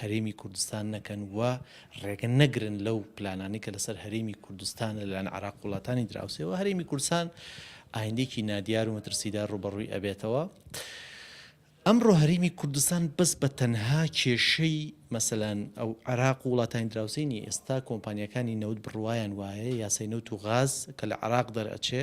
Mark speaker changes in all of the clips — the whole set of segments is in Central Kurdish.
Speaker 1: هەرێمی کوردستان نەکەن و ڕێگە نەگرن لەو پلانانەی کە لەسەر هەرێمی کوردستان لەلایەن عێراق وڵاتانی دراوسێەوە هەرێمی کوردستان ئایندێکی نادیار و مەترسیدار ڕوبەڕووی ئەبێتەوە. ئەمڕۆ هەرێمی کوردستان بەس بە تەنها کێشەی مەسەلەن ئەو عراق و وڵاتانی دراوسینی ئێستا کۆمپانیەکانی نەوت بڕواان وایە یاسای نەوت و غاز کە لە عراق دەرئەچێ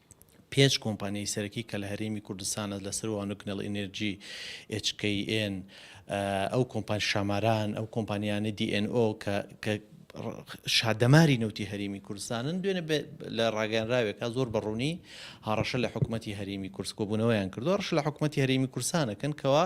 Speaker 1: پێنج کۆمپانیای سەرەکی کە لە هەرێمی کوردستانە لەسەر وانە گنەڵ ئینێرجی، ئێچ کەی ئێن، ئەو کۆمپانیا شاماران، ئەو کۆمپانیانە دی ئێن ئۆ کە کە شادەماری نەوتی هەرێمی کوردستانن دوێنێ لە ڕاگەیانراوێکا زۆر بە ڕوونی هاڕەشە لە حکوومەتتی هەرێمی کورس کۆبوونەوەیان کردووە ڕش لە حکوومەتتی هەرێمی کورسانەکەن کەەوە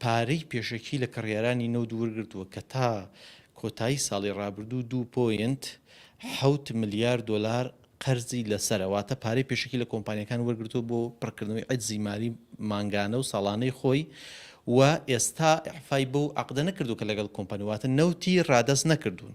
Speaker 1: پارەی پێشەکی لە کڕیارانی نەوت وەرگرتووە کە تا کۆتایی ساڵی رابردوو دوو پۆینت حەوت ملیار دۆلار قەرزی لەسەرە، واتە پارەی پێشەکی لە کۆمپانیاکان وەرگرتووە بۆ پڕکردنەوەی عەجزی مالی مانگانە و ساڵانەی خۆی و ئێستا ئیعفای بەو عەقدە نەکردووە کە لەگەڵ کۆمپانیا واتە نەوتی رادەست نەکردوون.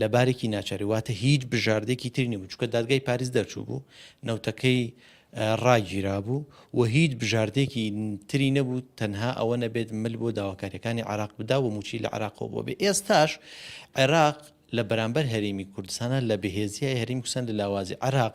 Speaker 1: لە بارێکی ناچاری واتە هیچ بژاردێکی تری نەبوو چکە دادگای پاریس دەرچوو بوو نەوتەکەی ڕاگیرا بوو و هیچ بژاردێکی تری نەبوو تەنها ئەوە نەبێت مل بۆ داواکاریەکانی عراق بدا و موچی لە عراقەوە بۆ بێ ئێستاش عێراق لە بەرامبەر هەرێمی کوردستانە لە بەهێزیای هەریم کوسەن لە لاوازی عراق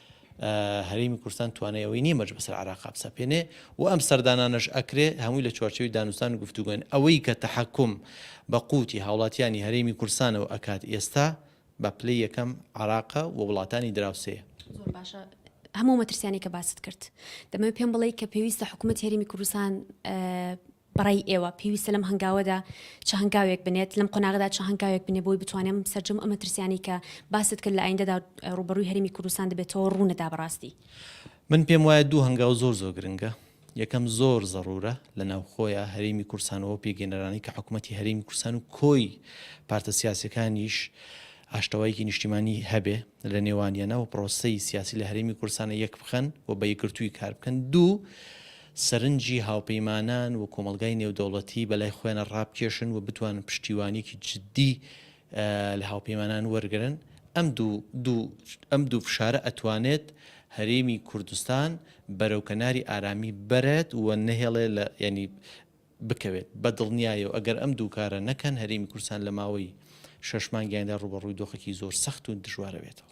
Speaker 1: هەرێمی کوردستان توانای ئەوەی نیە مەرج بەسەر عێراقا بسەپێنێ و ئەم سەردانانەش ئەکرێ هەمووی لە چوارچێوەی دانوستان و گفتوگۆن ئەوەی کە تەحەکوم بە قووتی هاوڵاتیانی هەرێمی کوردستانەوە ئەکات ئێستا بە پلەی یەکەم عێراقە و وڵاتانی دراوسێیە. زۆر باشە
Speaker 2: هەموو مەترسیانی کە باست کرد دەمەوێت پێم بڵێ کە پێویستە حکوومەت هەرێمی کوردستان بەڕای ئێوە پێویستە لەم هەنگاوەدا چ هەنگاوێک بنێت لەم قۆناغدا چ هەنگاوێک بنێ بۆی بتوانێم سەرجەم ئەمە ترسیانی کە باست کرد لە ئایندەدا ڕوبەروی هەرمی کوردستان دەبێتەوە ڕوونەدا بەڕاستی من پێم
Speaker 1: وایە دوو هەنگاو زۆر زۆر گرنگە یەکەم زۆر زەڕورە لە ناوخۆیە هەرێمی کورسانەوە پێگەێنەرانی کە حکوومەتتی هەرێمی کورسان و کۆی پارتە سیاسەکانیش ئاشتەوایکی نیشتیمانی هەبێ لە نێوانیانە و پرۆسەی سیاسی لە هەرێمی کوردستانە یەک بخەن و بە یەکگرتووی کار بکەن. دوو، سەرنجی هاوپەیمانان و کۆمەڵگای نێودەوڵەتی بە لای خۆیانە ڕابکێشن و بتوانن پشتیوانییەکی جددی لە هاوپەیمانان وەرگرن. ئەم دوو دوو ئەم دوو فشارە ئەتوانێت هەرێمی کوردستان بەرەو کەناری ئارامی بەرێت و نەهێڵێ لە یانی بکەوێت بە دڵنیایەو ئەگەر ئەم دوو کارە نەکەن هەرێمی کوردستان لە ماوەی شەش مانگی ئایندە ڕووبەڕووی دۆخێکی زۆر سەخت و دژوارەبێتەوە.